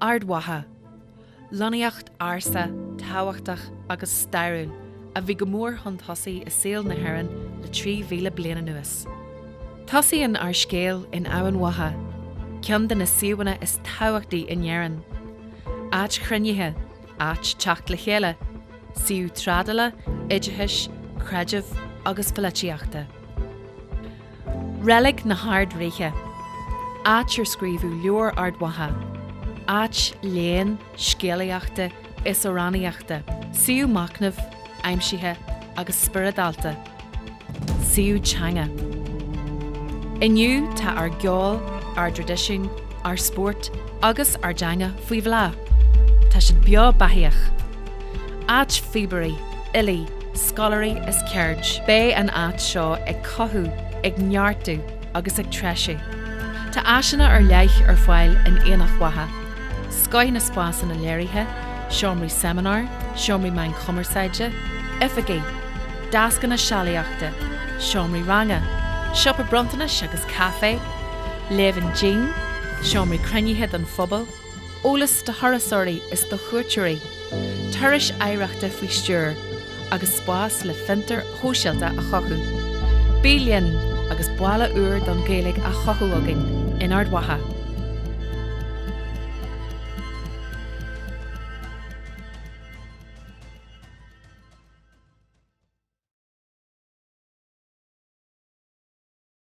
Ard Mhacha. Lonnaíocht ársa, tábhachtach agus stairiúil a bhí go mór chun tosaigh i saol na hÉireann le 3,000 bliain anuas. Tosaíonn ár scéal in Eamhain Mhacha, ceann de na suíomhanna is tábhachtaí in Éirinn. Áit chruinnithe, áit teacht le chéile, suíomh trádála, oideachais, creidimh agus pholaitíochta. Reilig na hArd-Ríthe, áit ar scríobhadh leabhar Ard Mhacha, áit léinn, scéalaíochta is amhránaíochta, suíomh machnaimh, aimsithe agus spioradálta, suíomh teanga. Inniu tá ár gceol, ár dtraidisiún, ár spórt agus ár dteanga faoi bhláth. Tá siad beo beathaíoch. Áit phíobairí, fhilí, scoláirí is ceird. Beidh an áit seo ag cothú, ag neartú agus ag treisiú. Tá áiseanna ar leith ar fáil in Aonach Mhacha, scoith na spásanna léirithe, seomraí seimineár, seomraí meán cumarsáide, oifigí, deascanna sealaíochta, seomraí ranga, siopa bronntanais agus caifé. Léibheann dín, seomraí cruinnithe don phobal, eolas do thurasóirí is do chuairteoirí, turais oidhreachta faoi stiúir, agus spás le fiontair shóisialta a chothú. Bí linn agus baile úr don Ghaeilge á chothú againn in Ard Mhacha!